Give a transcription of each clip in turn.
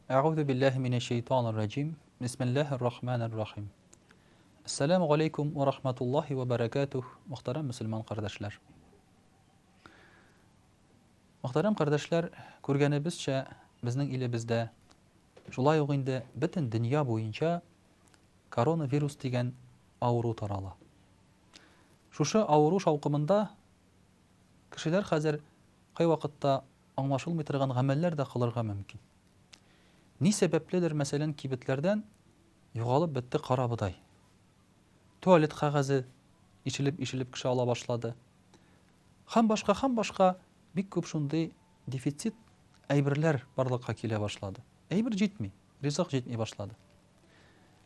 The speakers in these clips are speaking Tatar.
Әгъузу биллаһи минәш шәйтанир раҗим. Бисмиллаһир рахманир рахим. Ассаламу алейкум ва рахматуллахи ва баракатух, мөхтәрәм мусульман кардәшләр. Мөхтәрәм кардәшләр, күргәнебезчә, безнең илебездә шулай ук инде бөтен дөнья буенча коронавирус дигән авыру тарала. Шушы авыру шаукымында Кешеләр хәзер кайвакытта аңлашылмый торган гамәлләр дә кылырга мөмкин. Ни сәбәпледер, мәсәлән, кибетләрдән югалып бетте карабодай. Туалет кәгазе ишелеп-ишелеп кеше ала башлады. Һәм башка, һәм башка бик күп шундый дефицит әйберләр барлыкка килә башлады. Әйбер җитми, ризык җитми башлады.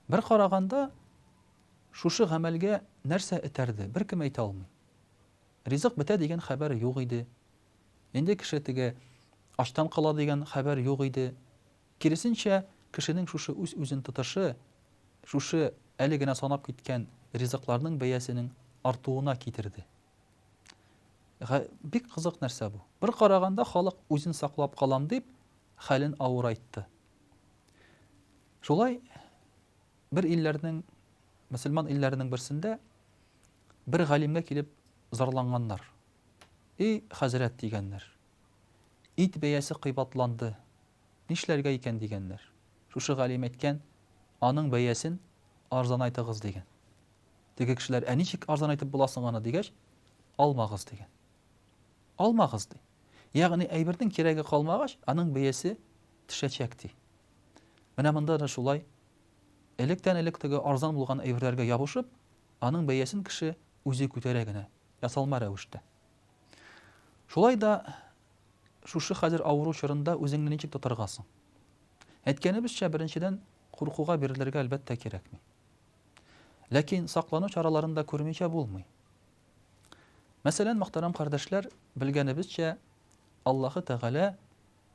Бер караганда, шушы гамәлгә нәрсә этәрде, беркем әйтә алмый. Ризык бетә дигән хәбәр юк иде. Инде кеше теге ачтан кала дигән хәбәр юк иде. Киресенчә, кешенең шушы үз-үзен тотышы, шушы әле генә санап киткән ризыкларның бәясенең артуына китерде. Га, бик кызык нәрсә бу. Бер караганда, халык үзен саклап калам дип, хәлен авырайтты. Шулай Бер илләрнең, мөселман илләренең берсендә бер галимгә килеп зарланганнар. И, хәзрәт, дигәннәр, ит бәясе кыйбатланды, нишләргә икән, дигәннәр. Шушы галим әйткән, аның бәясен арзанайтыгыз, дигән. Теге кешеләр, ә ничек арзанайтып була соң аны, дигәч, алмагыз, дигән. Алмагыз, ди. Ягъни әйбернең кирәге калмагач, аның бәясе төшәчәк, ди. Менә монда да шулай Электән-элек теге арзан булган әйберләргә ябышып, аның бәясен кеше үзе күтәрә генә, ясалма рәвештә. Шулай да шушы хәзер авыру чорында үзеңне ничек тотарга соң? Әйткәнебезчә, беренчедән, куркуга бирелергә, әлбәттә, кирәкми. Ләкин саклану чараларын да күрмичә булмый. Мәсәлән, мөхтәрәм кардәшләр, белгәнебезчә, Аллаһы Тәгалә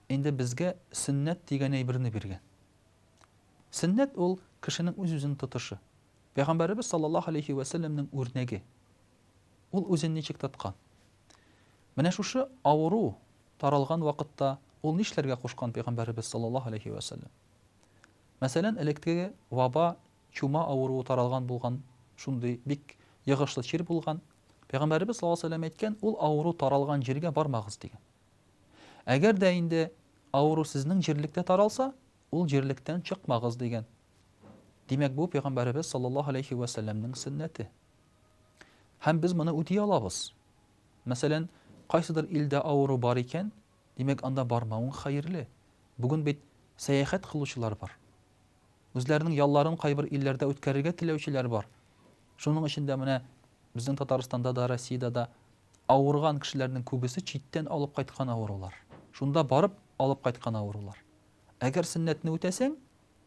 инде безгә сөннәт дигән әйберне биргән. Сөннәт ул, кешенең үз-үзен тотышы. Пәйгамбәребез саллаллаһу галәйһи вә сәлләмнең үрнәге. Ул үзен ничек тоткан? Менә шушы авыру таралган вакытта ул нишләргә кушкан пәйгамбәребез саллаллаһу галәйһи вә сәлләм? Мәсәлән, элеккеге ваба, чума авыруы таралган булган, шундый бик йогышлы чир булган. Пәйгамбәребез саллаллаһу галәйһи вә сәлләм әйткән, ул авыру таралган җиргә бармагыз, дигән. Әгәр дә инде авыру сезнең җирлектә таралса, ул җирлектән чыкмагыз дигән. Димәк, бу пәйгамбәребез саллаллаһу алейхи ва сәлләмнең сөннәте. Һәм без моны үти алабыз. Мәсәлән, кайсыдыр илдә авыру бар икән, димәк, анда бармавың хәерле. Бүген бит сәяхәт кылучылар бар. Үзләренең ялларын кайбер илләрдә үткәрергә теләүчеләр бар. Шуның өчен дә менә безнең Татарстанда да, Россиядә дә Авырган кешеләрнең күбесе читтән алып кайткан авырулар. Шунда барып алып кайткан авырулар. Әгәр сөннәтне үтәсәң,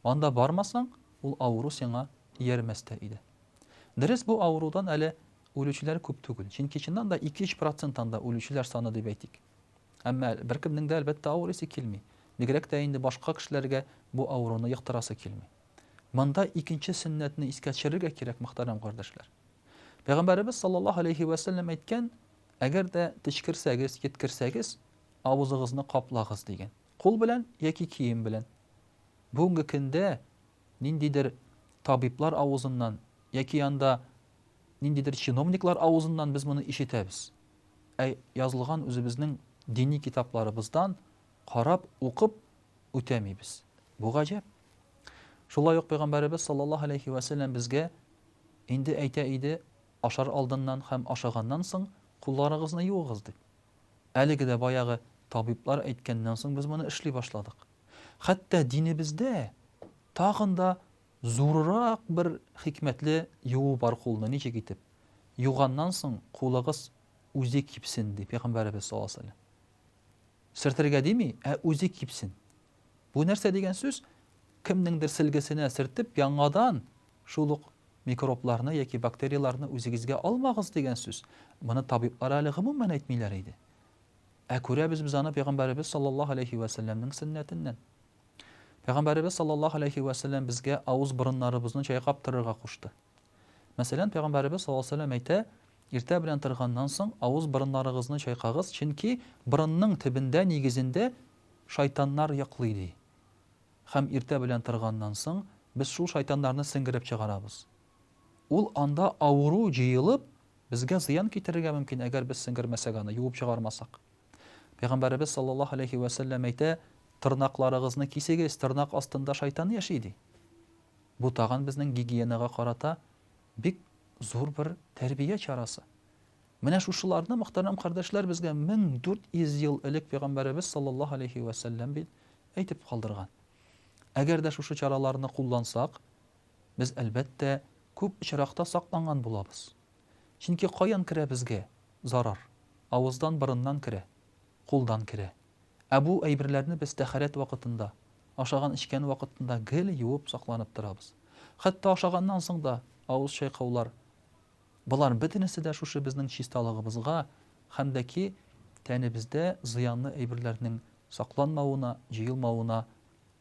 анда бармасаң, ул авыру сиңа иярмәс тә иде. Дөрес, бу авырудан әле үлүчеләр күп түгел. Чөнки чыннан да 2-3 процент анда үлүчеләр саны дип әйтик. Әмма беркемнең дә, әлбәттә, авырыйсы килми. Бигрәк тә инде башка кешеләргә бу авыруны йоктырасы килми. Монда икенче сөннәтне искә төшерергә кирәк, мөхтәрәм кардәшләр. Пәйгамбәребез саллаллаһу алейһи вә сәлләм әйткән, әгәр дә течкерсәгез, йөткерсәгез, авызыгызны каплагыз дигән. Кул белән яки кием белән. Бүгенге көндә ниндидер табиблар авызыннан яки анда ниндидер чиновниклар авызыннан без моны ишетәбез. Ә язылган үзебезнең дини китапларыбыздан карап, укып үтәмибез. Бу гаҗәп. Шулай ук пәйгамбәребез саллаллаһу алейһи вә сәлләм безгә Инде әйтә иде, ашар алдыннан һәм ашаганнан соң кулларыгызны юыгыз дип. Әлеге дә баягы табиблар әйткәннән соң без моны эшли башладык. Хәтта динебездә тагын да зурырак бер хикмәтле юу бар кулны, ничек итеп? Юганнан соң кулыгыз үзе кипсен, ди Пәйгамбәребез саллаллаһу алейһи ва сәлләм. Сөртергә дими, ә үзе кипсен. Бу нәрсә дигән сүз? Кемнеңдер селгесенә сертеп, яңадан шул ук микробларны яки бактерияләрне үзегезгә алмагыз дигән сүз. Моны табиблар әле гомумән әйтмиләр иде. Ә күрәбез без аны пәйгамбәребез саллаллаһу алейхи ва сәлләмнең сөннәтеннән. Пәйгамбәребез саллаллаһу алейхи ва сәлләм безгә авыз-борыннарыбызны чайкап торырга кушты. Мәсәлән, Пәйгамбәребез саллаллаһу алейһи ва сәлләм әйтә, Иртә белән торганнан соң, авыз-борыннарыгызны чайкагыз, чөнки борынның төбендә, нигезендә, шайтаннар йоклый, ди. Һәм иртә белән торганнан соң, без шул шайтаннарны сеңгереп чыгарабыз. Ул анда авыру җыелып, безгә зыян китерергә мөмкин, әгәр без сеңгермәсәк аны, юып чыгармасак. Пәйгамбәребез саллаллаһу алейһи ва сәлләм әйтә, Тырнакларыгызны кисегез, тырнак астында шайтан яши, ди. Бу тагын безнең гигиенага карата бик зур бер тәрбия чарасы. Менә шушыларны, мөхтәрәм кардәшләр, безгә 1400 ел элек пәйгамбәребез саллаллаһу алейһи вә сәлләм бит әйтеп калдырган. Әгәр дә шушы чараларны куллансак, без, әлбәттә, күп очракта сакланган булабыз. Чөнки каян керә безгә зарар? Авыздан, борыннан керә, кулдан керә. Ә бу әйберләрне без тәһарәт вакытында, ашаган-эчкән вакытында гел юып сакланып торабыз. Хәтта ашаганнан соң да авыз чайкаулар, болар бөтенесе дә шушы безнең чисталыгыбызга һәм дә ки тәнебездә зыянлы әйберләрнең сакланмавына, җыелмавына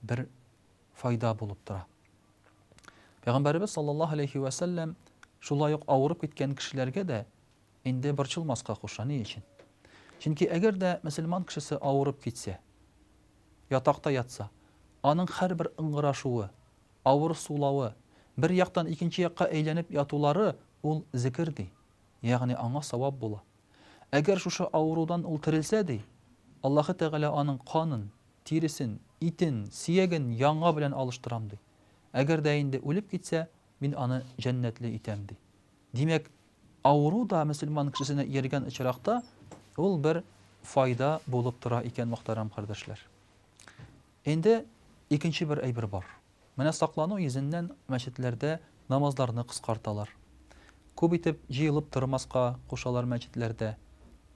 бер файда булып тора. Пәйгамбәребез саллаллаһу алейһи вә сәлләм шулай ук авырып киткән кешеләргә дә Инде борчылмаска куша, ни өчен? Чөнки әгәр дә мөселман кешесе авырып китсә, ятакта ятса, аның һәрбер ыңгырашуы, авыр сулавы, бер яктан икенче якка әйләнеп ятулары ул зекер, ди, ягъни аңа савап була. Әгәр шушы авырудан ул терелсә, ди, Аллаһы Тәгалә аның канын, тиресен, итен, сөяген яңа белән алыштырам, ди. Әгәр дә инде үлеп китсә, мин аны җәннәтле итәм, ди. Димәк, авыру да мөселман кешесенә ияргән очракта, ул бер файда булып тора икән, мөхтәрәм кардәшләр. Инде икенче бер әйбер бар. Менә саклану йөзеннән мәчетләрдә намазларны кыскарталар. Күп итеп җыелып тормаска кушалар мәчетләрдә.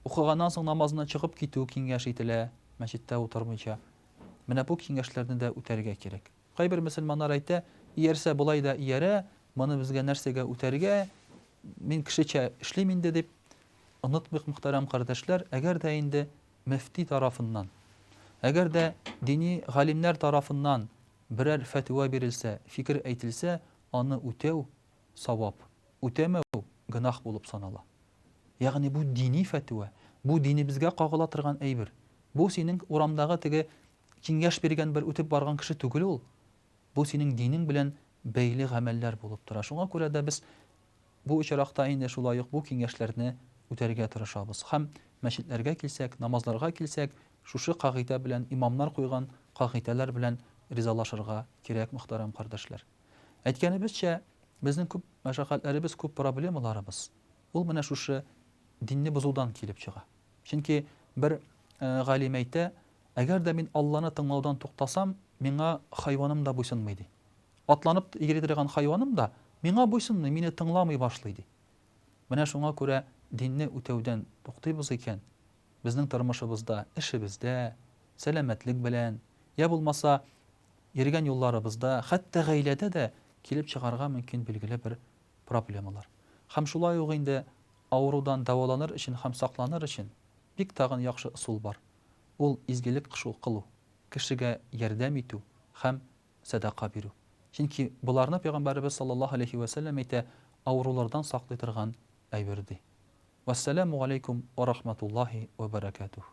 Укыганнан соң намазына чыгып китү киңәш ителә, мәчеттә утырмыйча. Менә бу киңәшләрне дә үтәргә кирәк. Кайбер мөселманнар әйтә, Иярсә болай да иярә, моны безгә нәрсәгә үтәргә, мин кешечә эшлим инде, дип. Онытмыйк, мөхтәрәм кардәшләр, әгәр дә инде мөфти тарафыннан, әгәр дә дини галимнәр тарафыннан берәр фәтва бирелсә, фикер әйтелсә, аны үтәү, савап, үтәмәү, гөнаһ булып санала. Ягъни бу дини фәтва, бу динебезгә кагыла торган әйбер. Бу синең урамдагы теге Киңәш биргән бер үтеп барган кеше түгел ул. Бу синең динең белән бәйле гамәлләр булып тора. Шуңа күрә дә без бу очракта инде шулай ук бу киңәшләрне үтәргә тырышабыз. Һәм мәчетләргә килсәк, намазларга килсәк, шушы кагыйдә белән, имамнар куйган кагыйдәләр белән ризалашырга кирәк, мөхтәрәм кардәшләр. Әйткәнебезчә, безнең күп мәшәкатьләребез, күп проблемаларыбыз, ул менә шушы динне бозудан килеп чыга. Чөнки бер галим әйтә, Әгәр дә мин Алланы тыңлаудан туктасам, миңа хайваным да буйсынмый, ди. Атланып йөри торган хайваным да миңа буйсынмый, мине тыңламый башлый, ди. Менә шуңа күрә динне үтәүдән туктыйбыз икән, безнең тормышыбызда, эшебездә, сәламәтлек белән, йә булмаса, йөргән юлларыбызда, хәтта гаиләдә дә килеп чыгарга мөмкин билгеле бер проблемалар. Һәм шулай ук инде Авырудан дәваланыр өчен һәм сакланыр өчен бик тагын яхшы ысул бар, ул изгелек кышу кылу, кешегә ярдәм итү һәм сәдака бирү. Чөнки боларны Пәйгамбәребез саллаллаһу галәйһи вә сәлләм әйтә, авырулардан саклый торган әйбер, ди. Вәссәләмү галәйкүм уә рахматуллаһи уә бәрәкәтүһ.